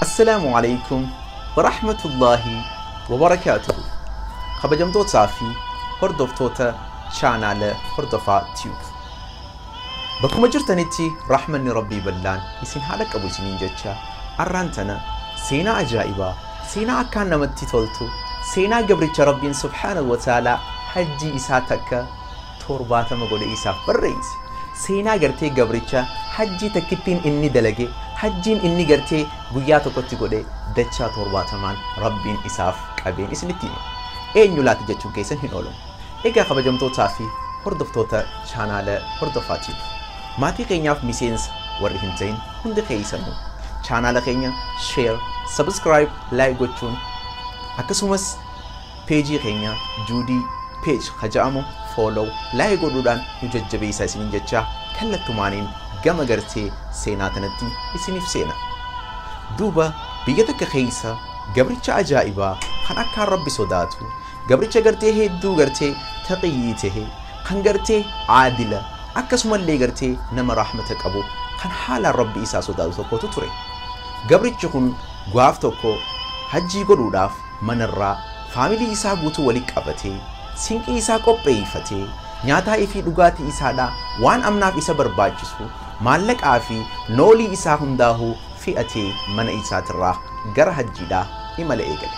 Assalaamu alaikum warahmatullaahi wabarakaatuhu kabajamtootaa fi hordoftoota chaanaala hordofaa tube bakkuma jirtanitti rahmanni rabbii ballaan isin haa dhaqqabu isiniin jecha arraan tana seenaa ajaa'ibaa seenaa akkaan namatti toltu seenaa gabricha rabbiin subhaanahu wa ta'aalaa hajjii isaa takka 70 godhe isaaf barreeyse. Seenaa gartee gabricha hajjii takkittiin inni dalage hajjiin inni gartee guyyaa tokkotti godhe dachaa 70n Rabbiin isaaf qabeen isinitti hime. Eenyu laata jechuun keessan hin oolu. Egaa kabajamtootaa fi hordoftoota chaanaala hordofaa tiiv. Maatii keenyaaf miseensa warri hin ta'in hundi keessanuu chaanaala keenya share, subscribe, like gochuun akkasumas Page keenya Judy Page ka ja'amu follow, like godhuudhaan nu jajjabeessaa isiniin jechaa kallattumaaniin gama gartee seenaa tanatti isiniif seena. Duuba biyya takka keessa gabricha ajaa'ibaa kan akkaan rabbi sodaatu gabricha gartee hedduu gartee taqiyyii tahe kan gartee aadila akkasumallee gartee nama rahmata qabu kan haalaan rabbi isaa sodaatu tokkotu ture. Gabrichi kun gaaf tokko hajjii godhuudhaaf mana irraa faamilii isaa guutuu wali qabatee, sinqii isaa qopheeyfatee, nyaataa ifii dhugaatii isaa dhaa waan amnaaf isa barbaachisu, maallaqaa fi noolii isaa hundaahuu fi'atee mana isaa tirraa gara hajjii dhaa imala eegale.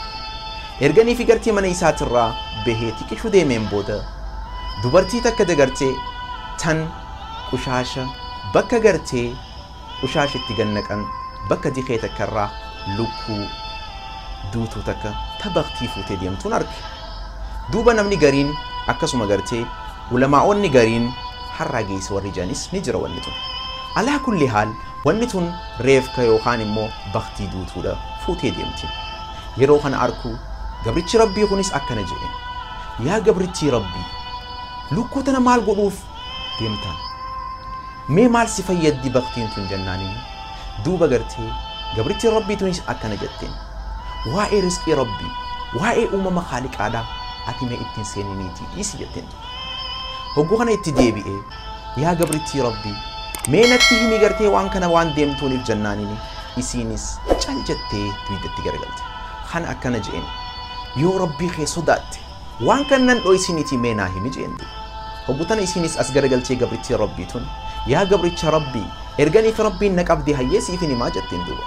Erga ni figartee mana isaa tirraa behee tiqishu deemeen booda, dubartii takka dagartee tan qushaasha bakka gartee qushaash itti gad naqan bakka dikee takka irraa lukkuu duutuu takka ta baktii fuutee deemtuun arke. Duuba namni gariin akkasuma gartee ulamaa'oonni gariin har'aa geeyse warri janis ni jira wanni tun. Alaa kulli haal wanni tun reefka yookaan immoo baktii duutuudha fuutee deemti. Yeroo kana arku gabrichi Rabbii kunis akkana jedheen. Yaa gabrittii Rabbii! Lukkuu tana maal godhuuf deemtaan mee maal si fayyaddi baktiin tun jennaaniin duuba gartee gabrittiin rabbii tunis akkana jetteen waa'ee risqii rabbii waa'ee uumama kaaliqaadhaa ati mee ittiin seeniniitii dhiisi jetteen hogguu kana itti deebi'ee yaa gabrittii rabbii mee natti himi gartee waan kana waan deemtuuniif jennaaniin isiinis cal jettee duwiddatti garagalte kan akkana je'een yoo rabbii kee sodaatte Waan kannan dhoysiniti mee naa himi je'en duuba. Hoggu tana isiinis as garagaltee gabrittiin Rabbii tun, Yaa gabricha Rabbii! Erganii fi Rabbiin na qabdee hayyee siifin himaa jetteen duuba.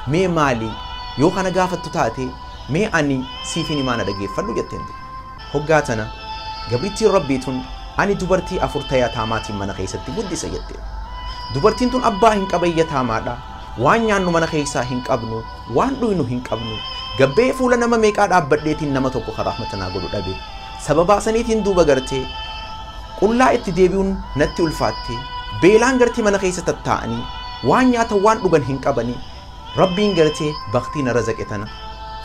Mee maali? Yoo ka na gaafattu taate, mee ani siifin himaa na dhageeffadhu jetteen duuba. Hoggaa tana gabrittiin Rabbii tun, Ani dubartii afur ta yataamaatiin mana keessatti guddise jetteen. Dubartiin tun abbaa hin qaban yataamaadha, waan nyaannu mana keessaa hin qabnu, Waan dhuynu hin qabnu. Gabba'ee fuula nama meeqaa dhaabbadheetiin nama tokko ka rahmata naa godhu dhabe. Sababaa saniitiin duuba gartee qullaa itti deebi'uun natti ulfaatte. Beelaan gartee mana keessa tattaa'anii waan nyaatan waan dhugan hin qabanii. Rabbiin gartee baktii na razaqe tana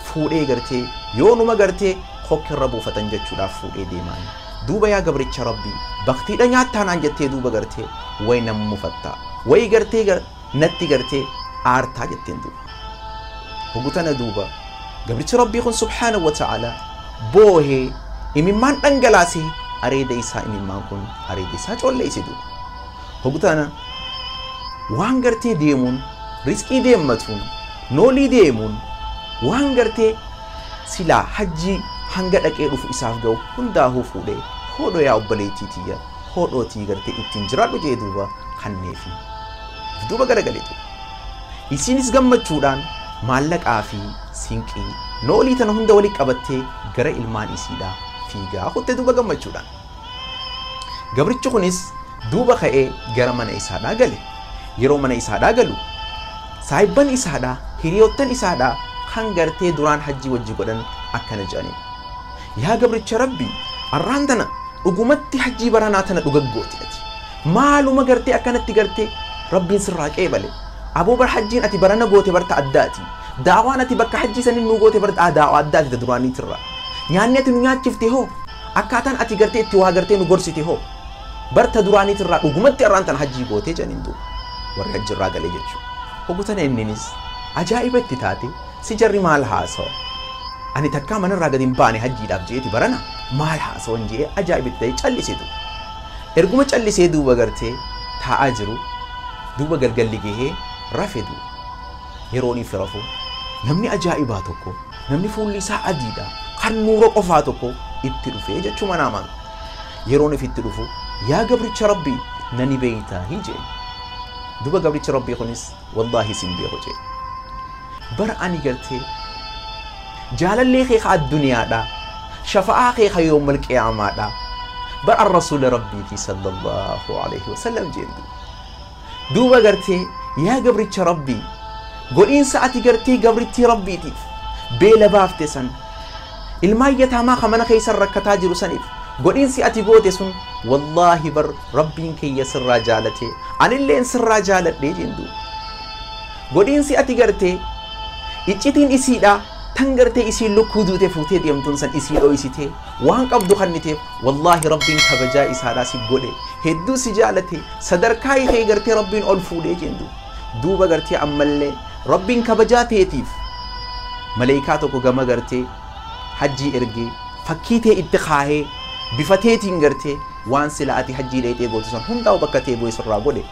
fuudhee gartee yoonuma gartee kokkirra buufatan jechuudhaaf fuudhee deemaan. Duuba yaa gabricha Rabbii baktiidha nyaattaa naan jettee duuba gartee way nan mufatta. Way gartee Natti gartee aartaa jetteen duuba. Hogu tana duuba gabrichi Rabbii kun subhaanahu wa ta'ala boohee imimmaan dhangalaase areeda isaa imimmaan kun areeda isaa colleeyse duuba. Hogu tana waan gartee deemuun rizqii deemmatuun noolii deemuun waan gartee silaa hajjii hanga dhaqee dhufu isaaf ga'u hundaahuu fuudhee hoodho yaa obboleettii tiyya hodhootii gartee ittiin jiraadhu jee duuba kanneefi. If duuba garagalee duuba. Isiinis gammachuudhaan maallaqaa fi sinqii noolii tana hunda walitti qabattee gara ilmaan isiidhaa fiigaa kutte duuba gammachuudhaan. Gabrichi kunis duuba ka'ee gara mana isaadhaa gale. Yeroo mana isaadhaa galu saahibban isaadhaa hiriyoottan isaadhaa kan gartee duraan hajjii wajji godhan akkana jedhaniin. Yaa gabricha Rabbii arraan tana dhugumatti hajjii baranaa tana dhuga goote ati maaluma gartee akkanatti gartee Rabbiin sirraa qeebale aboo bar hajjiin ati barana goote bar ta addaati daawaan ati bakka hajjii sanin nuu goote bar daawaa addaati ta duraaniitirra nyaanni ati nu nyaachifte hoo akkaataan ati gartee itti waa gartee nu gorsite hoo bar ta duraaniitirraa dhugumatti arraan tana hajjii goote janiin duuba warri hajjirraa galee jechuudha hoggutana inninis ajaa'iba itti taate Si jarri maal haasawa? Ani takkaa manarraa gad hin baane hajjiidhaaf jeeti barana maal haasawan je'ee ajaa'iba itti ta'e callise duuba. Erguma callisee duuba gartee taa'aa jiru duuba galgalli gahee rafe duuba. Yeroon ifi rafu namni ajaa'ibaa tokko namni fuulli isaa adiidha kan nuura qofaa tokko itti dhufee jechuu manaamaan. Yeroon ifitti dhufu yaa gabricha rabbii nani beeytaahi je'e. Duuba gabrichi rabbii kunis wallaahi sin beeku jee bara ani gartee jaalallee kee ka adduniyaadha shafa'aa kee ka yoomal qiyaamaadha bar an rasuula rabbiiti sallallahu alaihi wasallam jeen duuba duuba gartee yaa gabricha rabbii godhiinsa ati gartee gabrittii rabbiitiif beela baafte san ilmaan yataamaa ka mana keessan rakkataa jiru saniif godhiinsi ati goote sun wallaahi bar Rabbiin kiyya sirraa jaalatee anilleen sirraa jaaladhee jeen duuba. Godhiinsi ati gartee iccitiin isiidha tan gartee isiin lukkuu duute fuutee deemtuun san isii dhooysitee waan qabdu kanniteef wallaahi rabbiin kabajaa isaadhaa si godhe hedduu si jaalate sadarkaa ikee gartee rabbiin ol fuudhee jeen duuba. Duuba gartee ammallee rabbiin kabajaa teetiif maleeykaa tokko gama gartee hajjii ergee fakkii tee itti kaahee bifa teetiin gartee waan sila ati hajjii dhayxee gootu san hundaa'u bakka tee bu'ee sirraa godhe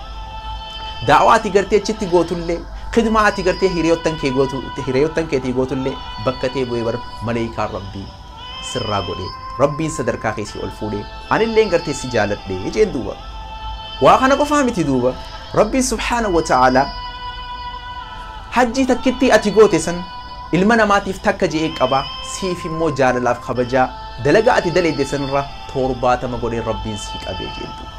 daawaa ati gartee achitti gootullee khidmaa ati gartee hiriyoottan kee gootu hiriyoottan keetii gootullee bakka tee bu'ee bar maleeykaan rabbii sirraa godhe rabbiin sadarkaa keessi ol fuudhe anilleen gartee si jaaladhe jeen duuba waa kana qofaa miti duuba rabbiin subhaana wa ta'aalaa hajjii takkittii ati goote san ilma namaatiif takka je'ee qaba siif immoo jaalalaaf kabajaa dalagaa ati daleedde sanirraa torbaatama godhee rabbiin sii qabee jeen duuba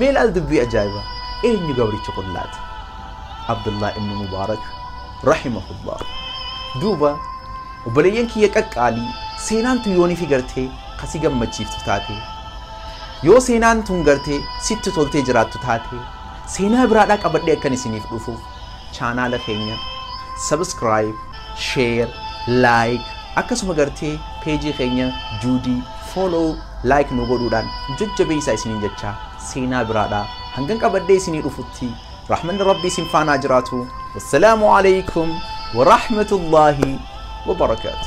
mee laal dubbii ajaa'iba eenyu gabrichi kun laata abdullaa ibnu mubaarak rahimahullah duuba obboleeyyan kiyya qaqqaalii seenaan tun yoonii fi gartee kasi gammachiiftu taate yoo seenaan tun gartee sitti toltee jiraattu taate seenaa biraadhaa qabadhee akkan isiniif dhufuuf chaanaala keenya subscribe, share, like akkasuma gartee peejii keenya juudii follow like nu godhuudhaan jajjabeessaa isiniin jechaa seenaa biraadhaa hangan qabadhee isinii dhufutti rahmanni rabbii isin faanaa jiraatu wassalaamu alaykum wa rahmatullaahi wa barakaatu